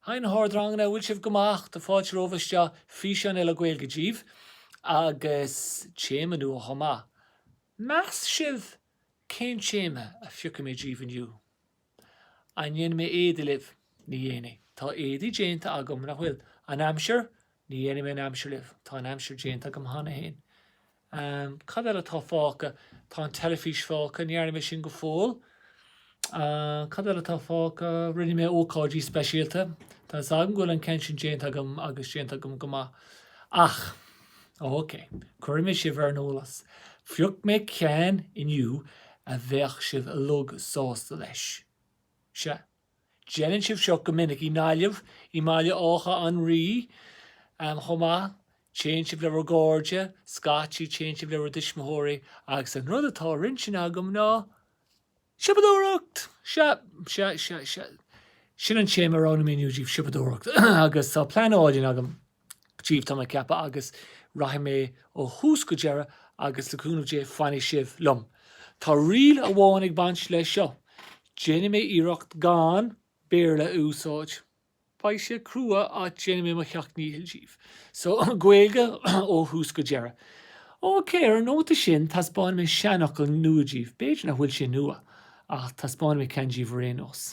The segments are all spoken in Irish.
Hi na hardranganna, an bhfuil sibh go maith? Tá fáilte romhaibh isteach, físeán eile Gaeilge díbh agus téama nua chomh maith. Meas sibh cén téama a phiocfaidh mé díbh inniu? An ndéanfaidh mé éadaí libh? Ní dhéanfaidh. Tá éadaí déanta agam, nach bhfuil? An aimsir? Ní dhéanfaidh mé an aimsir libh, tá an aimsir déanta agam cheana féin. Cad eile atá fágtha? Tá an teilifís fágtha, ní dhearna mé sin go fóill. Cad eile atá fágtha? Rinne mé ócáidí speisialta. Tá a fhios agam go bhfuil an ceann sin déanta agam agus déanta agam go maith. Ach. Óicé, cuirfidh mé sibh ar an eolas. Phioc mé ceann inniu a bheadh sibh uilig sásta leis. Sea. Déanann sibh seo go minic i nGaillimh, i mBaile Átha an Rí chomh maith, téann sibh le bhur gcairde, scaití téann sibh le bhur dtuismitheoirí agus an rud atá ar intinn agam ná siopadóireacht! Sea, sea, sea, sea, sin an téama a roghnaigh mé inniu díbh, siopadóireacht, agus tá plean álainn agam Díbh tá mé ag ceapadh agus rachaidh mé ó thús go deireadh agus le cúnamh Dé fanfaidh sibh liom. Tá riail amháin ag baint leis seo, déanfaidh mé iarracht gan Béarla a úsáid. Beidh sé crua ach déanfaidh mé mo sheacht ndícheall díbh. So, Gaeilge ó thús go deireadh. OK, ar an nóta sin taispeánfaidh mé seanfhocal nua díbh, b'fhéidir nach bhfuil sé nua ach taispeánfaidh mé ceann díbh ar aon nós.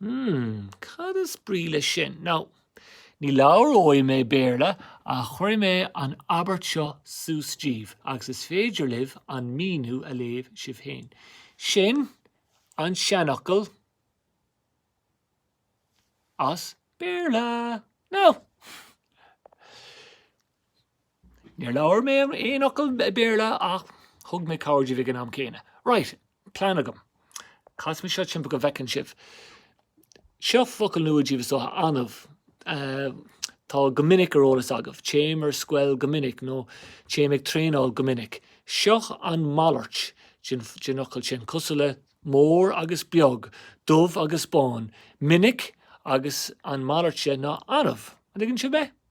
Hmm, cad is brí leis sin? Now, ní labhróidh mé Béarla ach cuirfidh mé an abairt seo suas díbh agus is féidir libh an míniú a léamh sibh féin. Sin an seanfhocal as Béarla. Now. Níor labhair mé aon fhocal Béarla ach thug mé cabhair díbh ag an am céanna. Right, plean agam. Casfaidh mé seo timpeall go bhfeiceann sibh. Seo focal nua díbh is dócha, annamh. Tá go minic ar eolas agaibh, téim ar scoil go minic nó téim ag traenáil go minic. Seo an malairt den fhocal sin, cosúil le mór agus beag, dubh agus bán, minic agus an malairt de ná annamh. An dtuigeann sibh mé?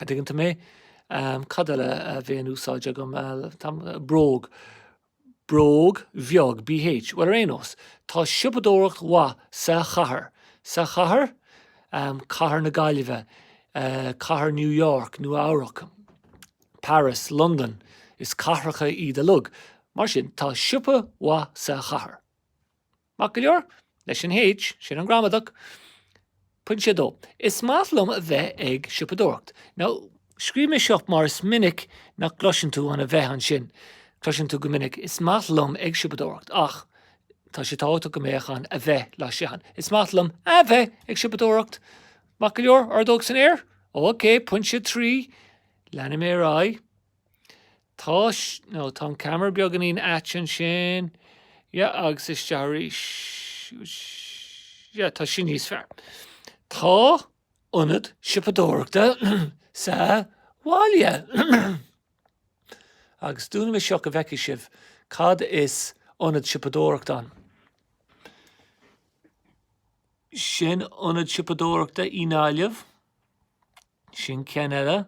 An dtuigeann tú mé? Cad eile a bheidh in úsáid agam? Bróg. Bróg bheag. Bh. Bhuel, ar aon nós, tá siopadóireacht mhaith sa chathair. Sa chathair? Cathair na Gaillimhe. Cathair New York, Nua-Eabhrac. Paris. Londain. Is cathracha iad uilig. Mar sin, tá siopa mhaith sa chathair. Maith go leor. Leis an H, sin an gramadach. Pointe a dó, Is maith liom a bheith ag siopadóireacht. Nó, scríobh mé seo mar is minic nach gcloiseann tú an a bheith ansin. Cloiseann tú go minic Is maith liom ag siopadóireacht ach tá sé tábhachtach go mbeadh an a bheith leis ann. Is maith liom a bheith ag siopadóireacht. Maith go leor, ordóg san aer? Óicé, pointe a trí. Leanfaidh mé ar aghaidh. No, tá an ceamara beagáinín ait ansin, yeah, agus isteach arís, yeah, tá sin níos fearr. Tá ionad siopadóireachta sa bhaile agus dúnfaidh mé seo go bhfeicfidh sibh cad is ionad siopadóireachta ann. Sin ionad siopadóireachta i nGaillimh, sin ceann eile.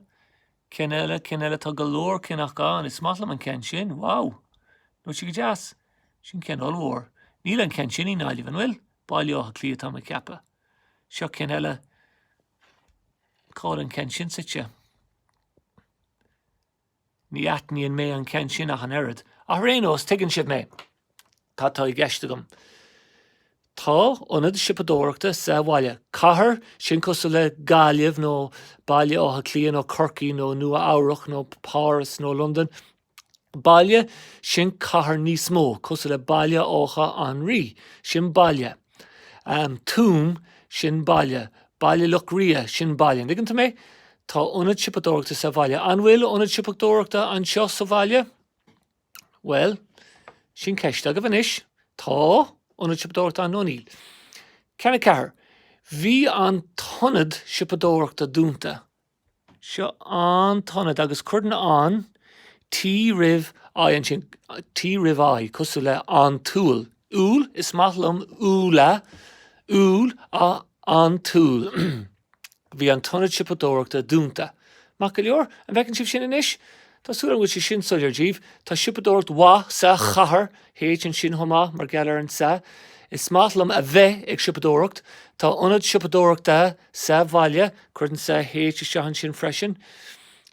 Ceann eile, ceann eile, tá go leor cinn, ach is maith liom an ceann sin, wow! Nach í sin go deas? Sin ceann ollmhór. Níl an ceann sin i nGaillimh, an bhfuil? Baile Átha Cliath, atá mé ag ceapadh. Seo ceann eile. Cá bhfuil an ceann sin suite? Ní aithníonn mé an ceann sin ach an oiread, ach ar aon nós, tuigeann sibh mé. Cad atá i gceist agam? Tá ionad siopadóireachta sa bhaile. Cathair, sin cosúil le Gaillimh nó Baile Átha Cliath nó Corcaigh nó Nua-Eabhrac nó Páras nó Londain. Baile, sin cathair níos mó, cosúil le Baile Átha an Rí. Sin baile. Tuaim, sin baile. Baile Locha Riach, sin baile. An dtuigeann tú mé? Tá ionad siopadóireachta sa bhaile. An bhfuil ionad siopadóireachta anseo sa bhaile? Bhuel, sin ceist daoibh anois. Tá ionad siopadóireachta ann nó níl. Ceann a ceathair, Bhí an t-ionad siopadóireachta dúnta. Seo an t-ionad agus cuireann an T roimh I ansin, T roimh I, cosúil le an t-úll. Úll, is maith liom úlla, úll, á, an t-úll. Bhí an t-ionad siopadóireachta dúnta. Maith go leor. An bhfeiceann sibh sin anois? Tá súil agam go bhfuil sé sin soiléir daoibh. Tá siopadóireacht mhaith sa chathair, H, ansin chomh maith mar gheall ar an sa. Is maith liom a bheith ag siopadóireacht. Tá ionad siopadóireachta sa bhaile, cuireann sa H isteach ansin freisin.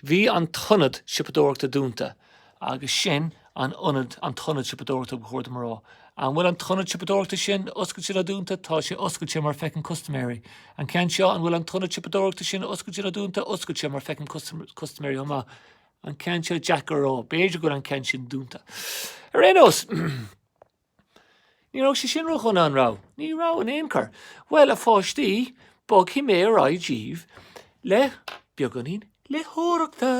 Bhí an t-ionad siopadóireachta dúnta. Agus sin an ionad, an t-ionad siopadóireachta, ba chóir dom a rá. An bhfuil an t-ionad siopadóireachta sin oscailte nó dúnta? Tá sé oscailte mar feicim custaiméirí. An ceann seo, an bhfuil an t-ionad siopadóireachta sin oscailte nó dúnta? Oscailte mar feicim custaiméirí chomh maith. An ceann seo, deacair a rá. B'fhéidir go bhfuil an ceann sin dúnta. Ar aon nós. Ní raibh sé sin ródhona, an raibh? Ní raibh in aon chor. Bhuel, a pháistí, bogfaidh mé ar aghaidh daoibh le beagáinín léitheoireachta.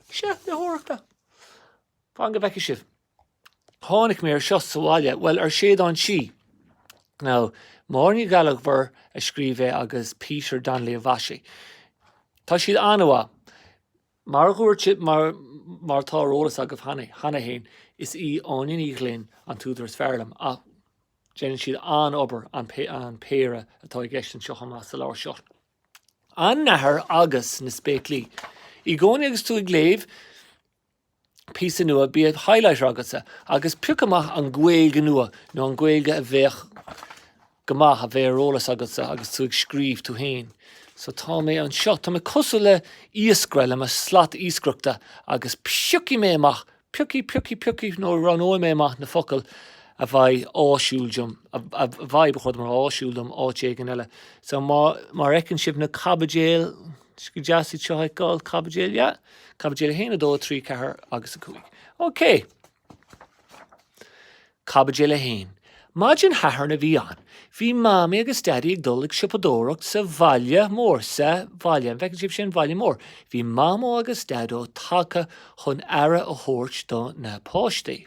Sea, léitheoireachta. Fan go bhfeicfidh sibh. Tháinig mé ar seo sa bhaile, bhuel, ar Séideán Sí. Now, Máire Ní Ghallchobhair a scríobh é agus Peter Donnelly a mhaisigh. Tá siad an-mhaith. Mar a dhúirt mé, mar atá ar eolas agaibh cheana féin, is í Áine Ní Ghlinn an t-údar is fearr liom, ach déanann siad an-obair, an, an péire atá i gceist anseo chomh maith, sa leabhar seo. An Nathair agus na Spéaclaí. I gcónaí agus tú ag léamh, píosa nua, bíodh highlighter agatsa agus pioc amach an Ghaeilge nua nó an Ghaeilge a bheadh go maith a bheith ar eolas agatsa agus tú ag scríobh tú féin. So tá mé anseo, tá mé cosúil le iascaire le mo slat iascaireachta agus piocfaidh mé amach, piocfaidh, piocfaidh, piocfaidh nó roghnóidh mé amach na focail a bheidh áisiúil dom, a bheidh, ba chóir dom a rá áisiúil dom áit éigin eile. So mar a fheiceann sibh na caibidil, Is go deas iad seo a fheiceáil, caibidil, yeah. Caibidil 1, 2, 3, 4 agus 5. OK. Caibidil 1. Maidin Shathairn a bhí ann. Bhí Mamaí agus Daidí ag dul ag siopadóireacht sa bhaile mór, sa bhaile, an bhfeiceann sibh sin, bhaile mór. Bhí Mamó agus Daideo tagtha chun aire a thabhairt do na páistí.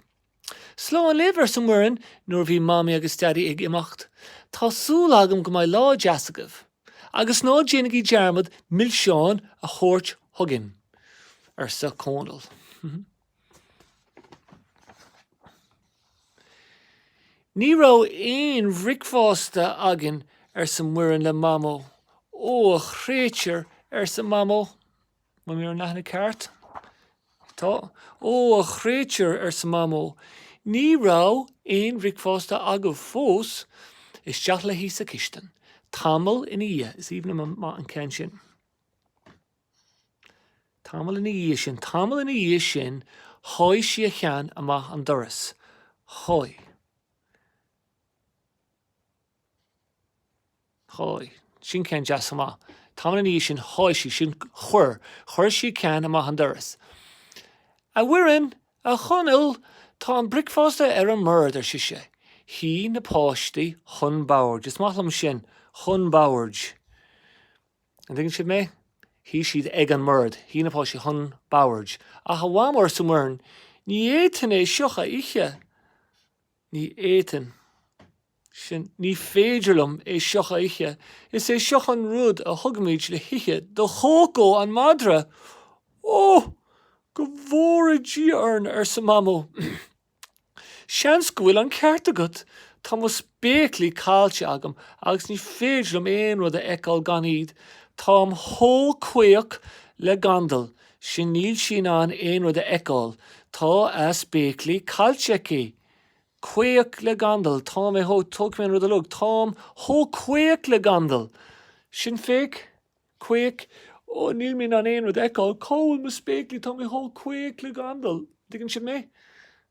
Slán libh, arsa Muireann nuair a bhí Mamaí agus Daidí ag imeacht. Tá súil agam go mbeidh lá deas agaibh. Agus ná déanaigí dearmad milseáin a thabhairt chugainn, arsa Cónall. Ní raibh aon bhricfeasta againn, arsa Muireann le Mamó. Ó, a chréatúir, arsa Mamó. An bhfuil mé ar an leathanach ceart? Tá. Ó, a chréatúir, arsa Mamó, ní raibh aon bhricfeasta agaibh fós? Isteach léi sa chistin. Tamall ina dhiaidh, is aoibhinn liom an ceann sin, Tamall ina dhiaidh sin, tamall ina dhiaidh sin sháigh sí a cheann amach an doras. Sháigh. Sháigh. Sin ceann deas chomh maith. Tamall ina dhiaidh sin sháigh sí. Sin chuir. Chuir sí a ceann amach an doras. A Mhuireann, a Chonaill, tá an bricfeasta ar an mbord, ar sise. Shuigh na páistí chun boird. Is maith liom sin, chun boird. An dtuigeann siad mé? Shuigh siad ag an mbord. Shuigh na páistí chun boird. Ach a Mham, arsa Muireann, ní fhéadfainn é seo a ithe. Ní fhéadfainn, sin ní féidir liom é seo a ithe. Is é seo an rud a thugaimid le hithe do Chócó an madra! Ó! Go bhfóire Dia orainn, arsa Mamó. Seans go bhfuil an ceart agat. Tá mo spéaclaí caillte agam agus ní féidir liom aon rud a fheiceáil gan iad. Táim chomh caoch le gandal. sin níl sí in ann aon rud a fheiceáil, tá a spéaclaí caillte aici. Caoch le gandal, tá mé chomh, tógfaidh mé an rud uilig, táim chomh caoch le gandal. Sin, féach, caoch, Ó, níl mé in ann aon rud a fheiceáil, cá bhfuil mo spéaclaí, tá mé chomh caoch le gandal. An dtuigeann sibh mé?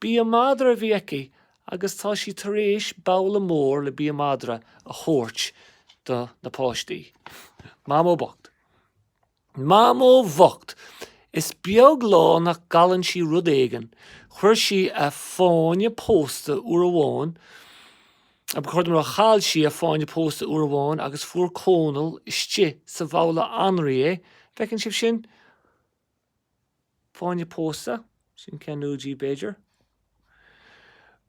Bia madra a bhí aici agus tá sí tar éis babhla mór le bia madra a thabhairt do na páistí. Mamó bocht. Mamó bhocht! Is beag lá nach gcailleann sí rud éigin. Chuir sí a fáinne pósta uair amháin a chuir, a Mhuire, chaill sí a fáinne pósta uair amháin agus fuair Cónall istigh sa bhabhla anraí é, an bhfeiceann sibh sin? Fáinne pósta, sin ceann acu siúd, b'fhéidir.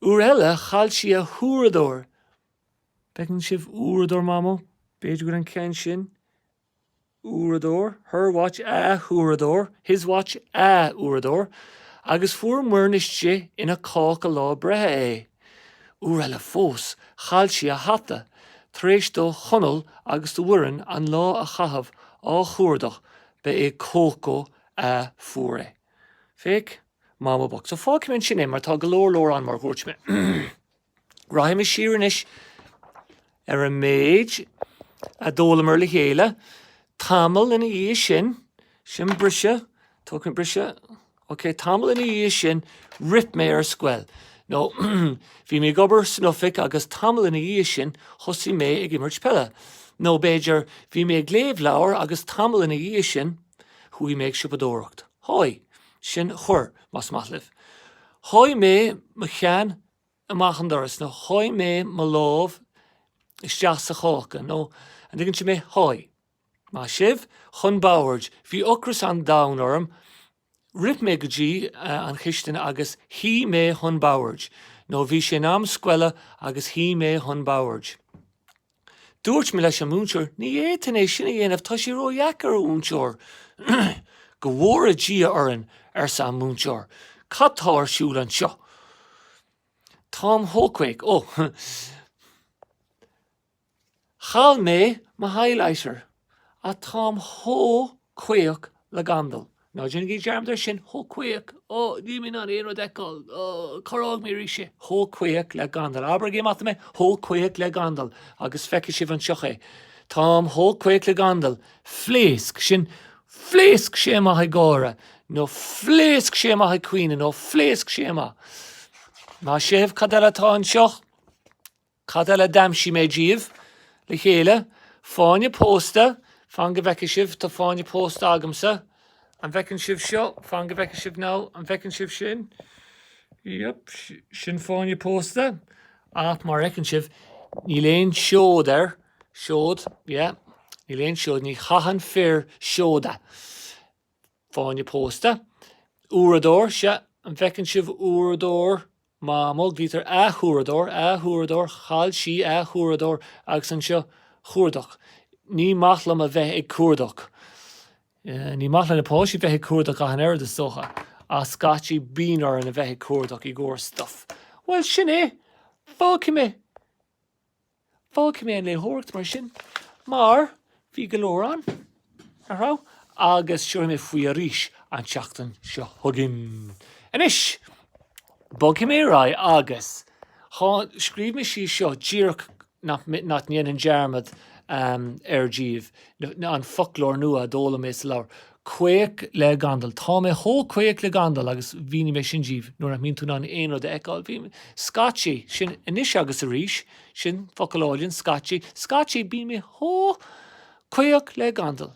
Uair eile chaill sí a huaireadóir. An bhfeiceann sibh uaireadóir Mamó? B'fhéidir go bhfuil an ceann sin, uaireadóir, her watch, a huaireadóir, his watch, a uaireadóir, agus fuair Muireann istigh ina cáca lá breithe é. Uair eile fós, chaill sí a hata, tar éis do Chonall agus do Mhuireann an lá a chaitheamh á chuardach Ba é Cócó a fuair é. Féach Mamó bhocht. So fágfaidh mé ansin é mar tá go leor leor ann mar a dhúirt mé. Rachaidh mé siar anois ar an méid a d'fhoghlamar le chéile tamall ina dhiaidh sin. Sin briseadh, tógfaidh mé briseadh. Ok, tamall ina dhiaidh sin, rith mé ar scoil. Nó, bhí mé ag obair san oifig agus tamall ina dhiaidh sin, thosaigh mé ag imirt peile. Nó, b'fhéidir, bhí mé ag léamh leabhair agus tamall ina dhiaidh sin, chuaigh mé ag siopadóireacht. Sháigh. Sin chuir, más maith libh. Sháigh mé mo cheann amach an doras nó sháigh mé mo lámh isteach sa cháca nó, an dtuigeann sibh mé? Sháigh. Maith sibh! Chun boird. Bhí ocras an domhain orm. Rith mé go dtí an chistin agus shuigh mé chun boird, nó bhí sé in am scoile agus shuigh mé chun boird. Dúirt mé leis an múinteoir, ní fhéadfainn é sin a dhéanamh, tá sé ró-dheacair, a mhúinteoir! Go bhfóire Dia orainn, arsa an múinteoir, cad tá ar siúl anseo? Táim chomh caoch. Ó! Chaill mé mo highlighter, ah, táim chomh caoch le gandal. Ná déanaigí dearmad ar sin, chomh caoch, ó, níl mé in ann aon rud a fheiceáil, ó, chuardaigh mé arís é. Chomh caoch le gandal. Abraigí amach dom é, chomh caoch le gandal, agus feicfidh sibh anseo é. Táim chomh caoch le gandal. Phléasc. Sin, phléasc sé amach ag gáire, nó phléasc sé amach ag caoineadh, nó phléasc sé amach. Maith sibh, cad eile atá anseo? Cad eile a d'aimsigh mé daoibh? Le chéile, Fáinne pósta, Fan go bhfeice sibh, Tá fáinne pósta agamsa. An bhfeiceann sibh seo? Fan go bhfeice sibh nó An bhfeiceann sibh sin? Yep, sin fáinne pósta. Ach, mar a fheiceann sibh, níl aon seod air. Seod, yeah. Níl aon seod, Ní chaitheann fir seoda. Fáinne pósta. Uaireadóir, Sea, an bhfeiceann sibh uaireadóir? Mamó, glaoitear, a huaireadóir, a huaireadóir, chaill sí a huaireadóir agus anseo chuardach, ní maith liom a bheith ag cuardach, ní maith le na páistí bheith ag cuardach ach an oiread is dócha ach scaití bíonn orainn a bheith ag cuardach i gcomhair stuff, bhuel sin é, fágfaidh mé. Fágfaidh mé an léitheoireacht mar sin, mar bhí go leor ann, nach raibh? agus tabharfaidh mé faoi arís an tseachtain seo chugainn. Anois, bogfaidh mé ar aghaidh agus scríobh mé síos seo díreach nach ndéanfainn dearmad air daoibh, an foclóir nua a d'fhoghlaim mé sa leabhar. caoch le gandal. Tá mé chomh caoch le gandal agus mhínigh mé sin daoibh, nuair nach mbíonn tú in ann aon rud a fheiceáil, bím, scaití, sin anois agus arís, sin focal álainn, scaití, scaití bíonn mé chomh caoch le gandal.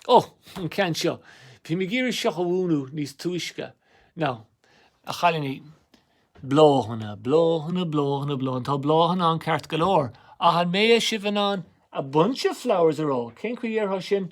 Ó, an ceann seo, bhí mé ag iarraidh seo a mhúineadh níos túisce. Now, a chailíní. Bláthanna, bláthanna, bláthanna, bláthanna, tá bláthanna ann ceart go leor, ach an mbeidh sibh in ann a bunch of flowers a rá? Cén chaoi a ndéarfá sin?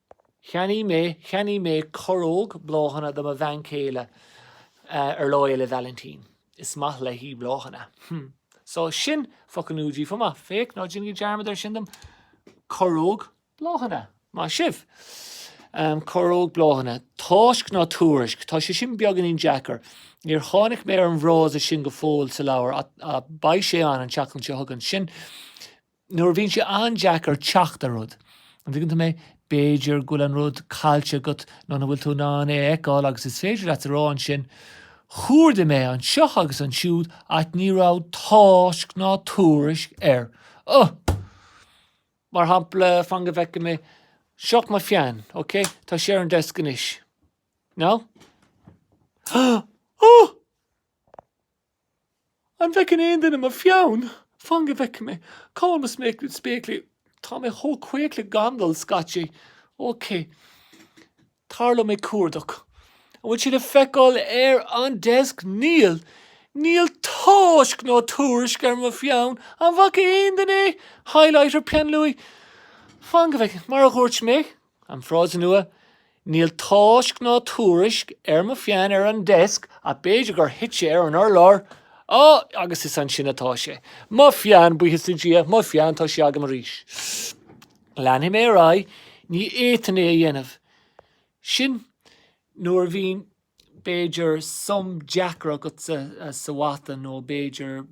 Cheannaigh mé, cheannaigh mé corróg bláthanna do mo bhean chéile ar Lá Fhéile Vailintín. Is maith léi bláthanna. Hm. So, sin focal nua daoibh chomh maith. Féach, ná déanaigí dearmad air sin dom. Corróg bláthanna. Maith sibh! Ahm, corróg bláthanna. Tásc ná tuairisc. Tá sé sin beagáinín deacair. Níor tháinig mé ar an bhfrása sin go fóill sa leabhar ach beidh sé ann an tseachtain seo chugainn. Sin. nuair a bhíonn sé an-deacair teacht ar rud, an dtuigeann sibh mé? B'fhéidir go bhfuil an rud caillte agat nó nach bhfuil tú in ann é a fheiceáil agus is féidir leat a rá ansin, 'Chuardaigh mé anseo agus ansiúd ach ní raibh tásc ná tuairisc air. Ugh! Mar shampla, fan go bhfeice mé. Seo mo pheann, OK? Tá sé ar an deasc anois. Now? Ugh! An bhfeiceann aon duine mo pheann? Fan go bhfeice mé. Cá bhfuil mo spéaclaí? Tá mé chomh caoch le gandal scaití. OK. Tharla mé ag cuardach. An bhfuil sé le feiceáil ar an deasc? Níl. Níl tásc ná tuairisc ar mo pheann. An bhfaca aon duine é? Highlighter, peannluaí? Fan go bhfeice. Mar a dhúirt mé, An frása nua, Níl tásc ná tuairisc ar mo pheann ar an desk ach b'fhéidir gur thit sé ar an urlár, á, agus is ansin atá sé. Mo pheann, buíochas le Dia, mo pheann, tá sé agam arís. Leanfaidh mé ar aghaidh, ní fhéadfainn é a dhéanamh. Sin nuair a bhíonn. b'fhéidir, sum deacair agat sa mhata nó b'fhéidir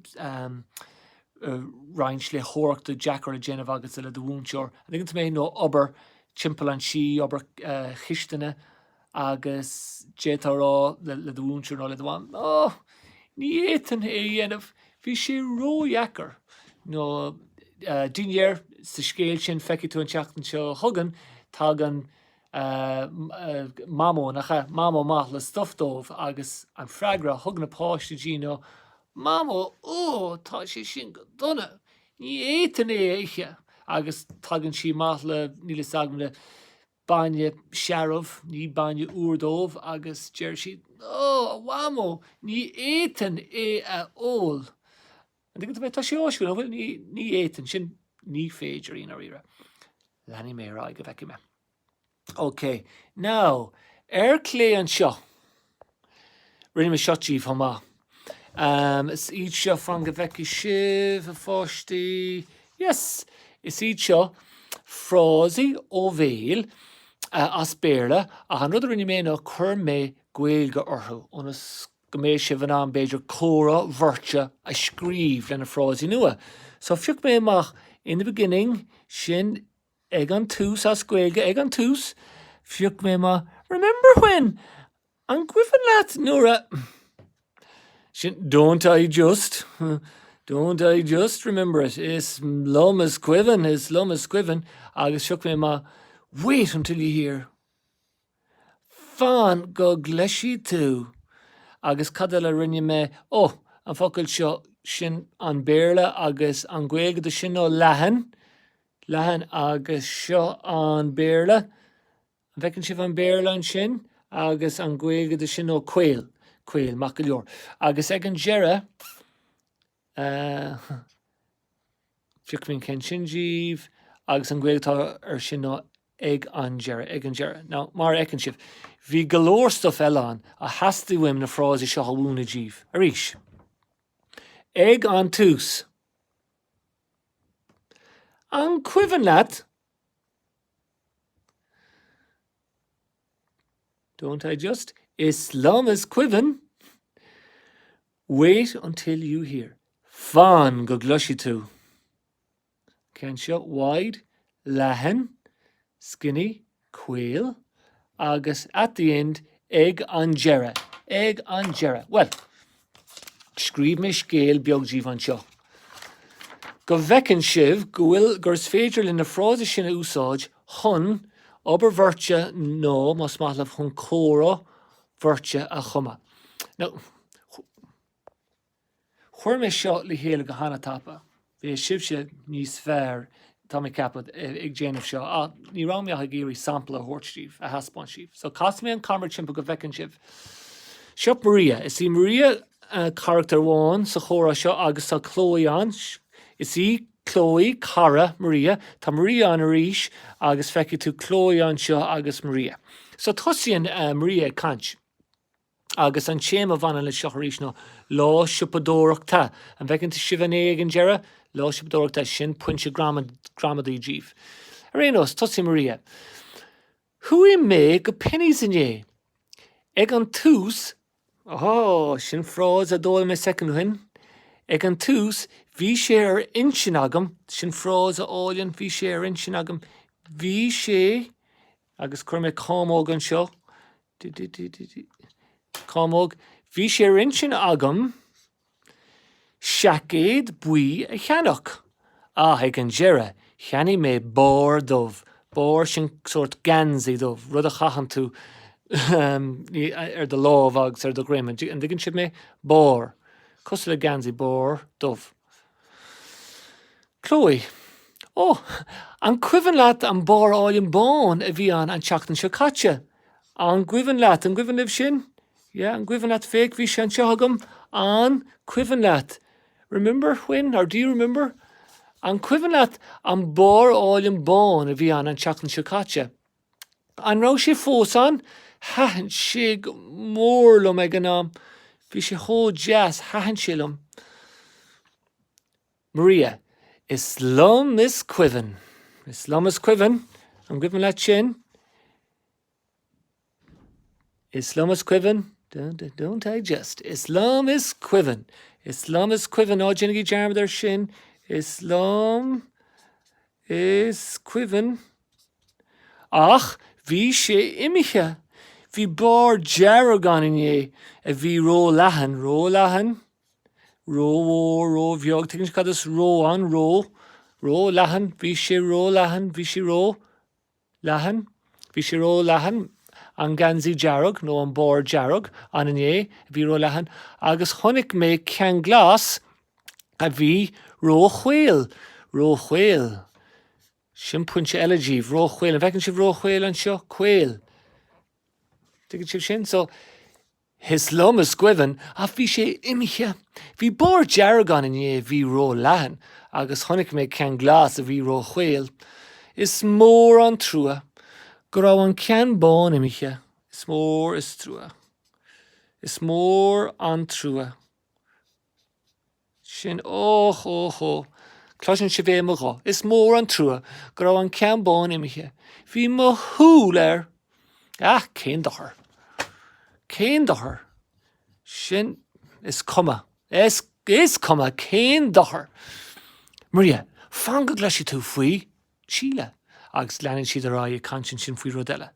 roinnt léitheoireachta deacair á déanamh agat le do mhúinteoir, an dtuigeann tú mé? nó obair timpeall an tí, obair chisteanaí agus d'fhéadfá a rá le do mhúinteoir nó le do mham, Ó, ní fhéadfainn é a dhéanamh, bhí sé ródheacair. Nó i ndáiríre, sa scéal sin feicfidh tú an tseachtain seo chugainn, tagann mh, Mamó, nach ea? Mamó amach le stuf dóibh agus an freagra a thug na páistí di ná, Mamó, óóó, tá sé sin go dona, ní fhéadfainn é a ithe! Agus tagann sí amach le, níl fhios agam, le bainne searbh, ní bainne úr dóibh agus deir siad, Ó, a Mhamó, ní fhéadfainn é a ól! An dtuigeann tú mé? Tá sé áisiúil, an bhfuil? Ní fhéadfainn, sin ní féidir i ndáiríre. Leanfaidh mé ar aghaidh go bhfeicfidh mé. Ok, now, ar clé anseo, rinne mé seo daoibh chomh maith. Um, is iad seo, fan go bhfeicfidh sibh, a pháistí. Yes, is iad seo frásaí ó bhéal uh, as Béarla, ach an rud a rinne mé ná chuir mé Gaeilge orthu, ionas go mbeidh sibh in ann b'fhéidir comhrá bheirte a scríobh leis na frásaí nua. So phioc mé amach in the beginning, sin ag an tús, as Gaeilge, ag an tús, phioc mé amach remember when, an gcuimhin leat nuair a, sin don't I just, don't I just remember it, is liom is cuimhin, is liom is cuimhin, agus phioc mé amach wait until you hear. Fan go gcloisfidh tú! Agus cad eile a rinne mé? Ó, an focal seo, sin an Béarla agus an Ghaeilge dó sin ná leathan, leathan, agus seo an Béarla, an bhfeiceann sibh an Béarla ansin? agus an Ghaeilge dó sin ná caol, caol, maith go leor. Agus ag an deireadh. Feicfidh mé an ceann sin díbh. Agus an Ghaeilge atá air sin ná ag an deireadh, ag an deireadh. Now, mar a fheiceann sibh, bhí go leor stuif eile ann a theastaigh uaim na frásaí seo a mhúineadh díbh. Arís. Ag an tús. An cuimhin leat? Don't I just? Is liom is cuimhin. Wait until you hear, fan go gcloisfidh tú. An ceann seo, wide, leathan, skinny, caol, agus at the end, ag an deireadh, ag an deireadh. Bhuel, scríobh mé scéal beag díbh anseo, go bhfeiceann sibh go bhfuil, gur is féidir linn na frásaí sin a úsáid chun obair bheirte nó, más maith liom, chun comhrá bheirte a chumadh. Now, chuir mé seo le chéile go hana-thapa. Beidh sibhse níos fearr, tá mé ag ceapadh, ag déanamh seo, ach ní raibh mé ach ag iarraidh sampla a thabhairt díbh, a thaispeáint díbh. So, casfaidh mé an camera timpeall go bhfeiceann sibh. Seo Maria. Is í Maria carachtar amháin sa chomhrá seo agus tá Chloe ann. Is í Chloe, cara, Maria. Tá Maria ann arís agus feicfidh tú Chloe anseo agus Maria. So tosaíonn Maria ag caint agus an téama a bhaineann leis seo arís ná lá siopadóireachta. An bhfeiceann sibh an a ag an deireadh? Lá siopadóireachta, sin pointe gramadaí díbh. Ar aon nós, tosaíonn Maria. Chuaigh mé go Penneys inné. Ag an tús, Ó, sin frása a d'fhoghlaim mé soicind ó shin. Ag an tús, bhí sé ar intinn agam, sin frása álainn, bhí sé ar intinn agam, bhí sé, agus cuirfidh mé cámóg anseo, cámóg, bhí sé ar intinn agam, seaicéad buí a cheannach, ach ag an deireadh cheannaigh mé barr dubh, barr sin sórt geansaí dubh, rud a chaitheann tú ar do lámh agus ar do dhroim, an dtuigeann sibh mé? barr, cosúil le geansaí, barr dubh. Chloe, Ó, an cuimhin leat an barr álainn bán a bhí ann an tseachtain seo caite? An gcuimhin leat, an gcuimhin libh sin? Yeah, an cuimhin leat, féach, bhí sé anseo agam, an, cuimhin leat? Remember when, or do you remember? An cuimhin leat an barr álainn bán a bhí ann an tseachtain seo caite? An raibh sé fós ann? Thaitin sé go mór liom ag an am. Bhí sé chomh deas, thaitin sé liom. Maria, Is liom is cuimhin. Is liom is cuimhin. An cuimhin leat sin? Is liom is cuimhin, don't I just, is liom is cuimhin, is liom is cuimhin, ná déanaigí dearmad air sin, is liom is cuimhin, ach bhí sé imithe, bhí barr dearg ann inné a bhí róleathan, róleathan, rómhór, róbheag, tuigeann sibh cad is ró ann, ró, róleathan, bhí sé róleathan, bhí sí ró, Leathan, Bhí sé róleathan, an geansaí dearg, nó an barr dearg, ann inné, a bhí róleathan, agus chonaic mé ceann glas, a bhí róchaol, róchaol, sin pointe eile díbh, róchaol, an bhfeiceann sibh róchaol anseo? caol, an dtuigeann sibh sin? So. Is liom is cuimhin ach bhí sé imithe. Bhí barr dearg ann inné a bhí ró leathan agus chonaic mé ceann glas a bhí ró chaol. Is mór an trua go raibh an ceann bán imithe. Is mór is trua. Is mór an trua. sin. Óch, óch, óch, cloiseann sibh é i mo ghuth. Is mór an trua go raibh an ceann bán imithe. Bhí mo shúil air. Ach cén dochar? Cén dochar? Sin, is cuma. Is, is cuma. Cén dochar? Maria, fan go gcloisfidh tú faoi. Síle. Agus leanann siad ar aghaidh ag caint ansin faoi rud eile.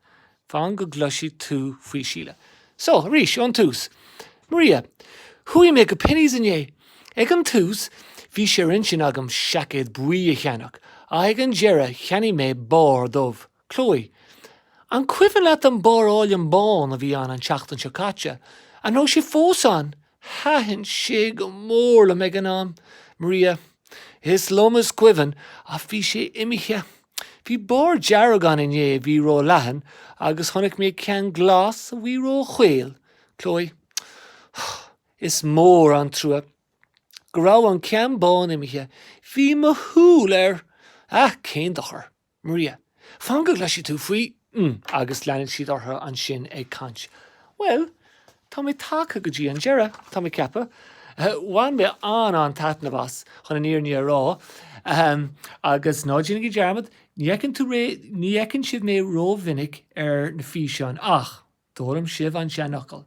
Fan go gcloisfidh tú faoi Síle. So, arís, ón tús. Maria, Chuaigh mé go Penneys inné. Ag an tús, bhí sé ar intinn agam seaicéad buí a cheannach, ach ag an deireadh cheannaigh mé barr dubh. Chloe, An cuimhin leat an barr álainn bán a bhí ann an tseachtain seo caite? An raibh sé fós ann? Thaitin sé go mór liom ag an am, Maria. Is liom is cuimhin, ach bhí sé imithe. Bhí barr dearg ann inné a bhí ró-leathan agus chonaic mé ceann glas a bhí ró-chaol, Chloe. Is mór an trua go raibh an ceann bán imithe. Bhí mo shúil air. Ach, cén dochar. Maria, Fan go gcloisfidh tú faoi mm. Agus leanann siad orthu ansin ag caint. Bhuel, tá mé tagtha go dtí an deireadh, tá mé ag ceapadh. Bhain mé an-an-taitneamh as, chun an fhírinne a rá. Ahem, agus ná déanaigí dearmad, ní fheiceann tú r-, ní fheiceann sibh mé rómhinic ar na físeáin ach d'fhoghlaim sibh an seanfhocal.